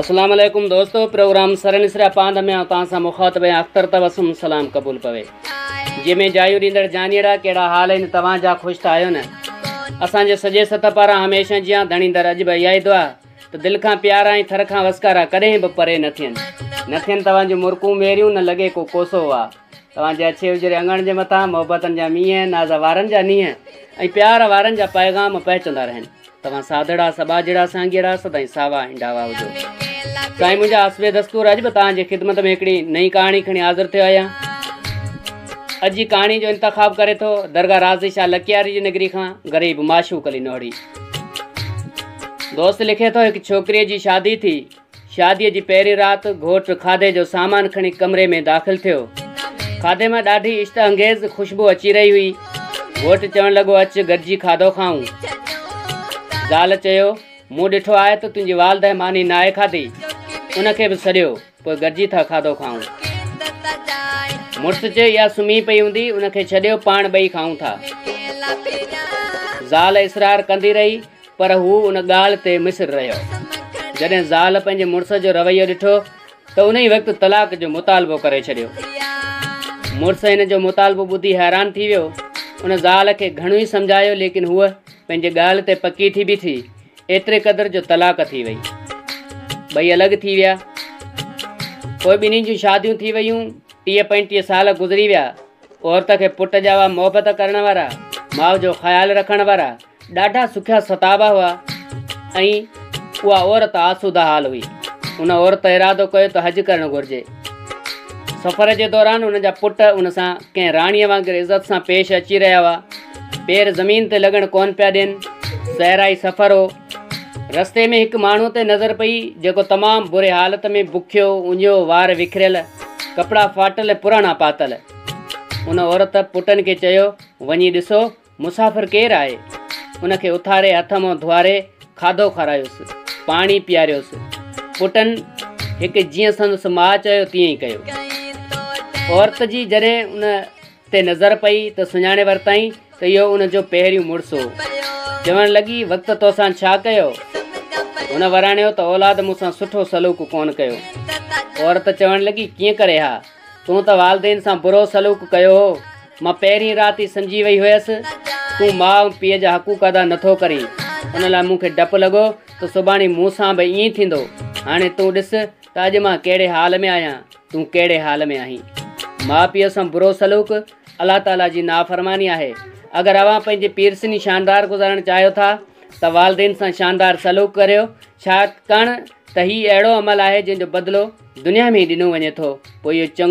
اسلام عليڪم دوستو پروگرام سر نسريا پاند ۾ توهان سان مخاطب آهيان اختر تبسم سلام قبول پوي جي ۾ جايو ڏيندڙ جانيرا ڪهڙا حال آهن توهان جا خوش ته آهيو نه اسان جي سڄي سطح پارا هميشه جيان ڌڻيندر اڄ به اها ئي دعا ته دل کان پيارا ۽ ٿر کان وسڪارا ڪڏهن به پري نه ٿين نه ٿين توهان جون مرڪون ميريون نه لڳي ڪو ڪوسو وا توهان جي اڇي اجري اڱڻ جي مٿان محبتن جا مينهن ناز وارن جا نينهن ۽ پيار وارن جا پيغام پهچندا رهن توهان ساڌڙا سٻا جهڙا سانگيئڙا سدائين ساوا ۽ ڊاوا هجو سائين منهنجا حسب دستور اڄ به توهان جي خدمت ۾ هڪڙي نئين ڪهاڻي کڻي حاضر ٿيو آهيان اڄ جي ڪهاڻي جو انتخاب ڪري ٿو درگاهه رازي شاهه لکياري جي نگري کان غريب معشوق علي نوڙي دوست لکي ٿو هڪ ڇوڪري جي شادي ٿي شاديء جي پهرين رات گهوٽ کاڌي جو سامان کڻي ڪمري ۾ داخل ٿيو. کاڌي مان ڏاڍي عشت انگيز خوشبو اچي رهي هئي. گهوٽ چوڻ لڳو اچ گڏجي کاڌو کائون. زال چيو، مون ڏٺو آهي ته تنهنجي والده ماني ناهي کاڌي. ان کي به سڏيو، پوء گڏجي ٿا کاڌو کائون. مڙس چيو اها سمهي پئي هوندي، ان کي ڇڏيو پاڻ ٻئي کائون ٿا. زال اصرار ڪندي رهي. پر هو ان ڳالهه تي مصر رهيو. جڏهن زال پنهنجي مڙس جو رويو ڏٺو ته ان ئي وقت طلاق جو مطالبو ڪري ڇڏيو. مڙس هن جو مطالبو ٻڌي حيران ٿي ويو. ان زال کي گهڻو ئي سمجهايو ليڪن هوء پنهنجي ڳالهه تي پڪي ٿي بيٺي ايتري قدر جو طلاق ٿي وئي. ٻئي الڳ ٿي ويا. پوء ٻنهي جون شاديون ٿي ويون. ٽيهه پنجٽيهه سال گذري ويا. عورت کي پٽ جا هئا محبت ڪرڻ وارا، ماء جو خيال رکڻ وارا. ڏاڍا سکيا ستابا هئا ۽ اها عورت آسوده حال هئي. ان عورت ارادو ڪيو ته حج ڪرڻ گهرجي. سفر جي دوران ان جا پٽ ان سان ڪنهن راڻيء وانگر عزت سان پيش اچي رهيا هئا. پير زمين تي لڳڻ ڪونه پيا ڏين. صحرائي سفر هو. رستي ۾ هڪ ماڻهوء تي نظر پئي، جيڪو تمام بري حالت ۾ بکيو، اڃيو، وار وکريل، ڪپڙا ڦاٽل ۽ پراڻا پاتل. ان عورت پٽن کي چيو، وڃي ڏسو مسافر ڪير آهي؟ ان کي اٿاري هٿ منهن ڌوئاري کاڌو کارايوس، پاڻي پيئاريوس. پٽن هڪ جيئن سندس ماء چيو تيئن ئي ڪيو. عورت جي جڏهن ان تي نظر پئي ته سڃاڻي ورتائين ته اهو ان جو پهريون مڙس هو. چوڻ لڳي وقت توسان ڇا ڪيو؟ هن وراڻيو ته اولاد مون سان سٺو سلوڪ ڪونه ڪيو. عورت چوڻ لڳي ڪيئن ڪري ها؟ تون ته والدين سان برو سلوڪ ڪيو هو. مان پهرين رات ئي سمجهي وئي هيس تون ماء ۽ پيء جا حقوق ادا نٿو ڪرين. ان لاء مون کي ڊپ لڳو ته سڀاڻي مون سان به ائين ٿيندو. هاڻي تون ڏس ته اڄ مان ڪهڙي حال ۾ آهيان، تون ڪهڙي حال ۾ آهين. ماء پيء سان برو سلوڪ الله تعاليٰ جي نافرماني آهي. اگر اوهان پنهنجي پيرسني شاندار گذارڻ چاهيو ٿا ته والدين سان شاندار سلوڪ ڪريو. ڇاڪاڻ ته هي اهڙو عمل آهي جنهن جو بدلو دنيا ۾ ئي ڏنو وڃي ٿو پوء اهو چڱو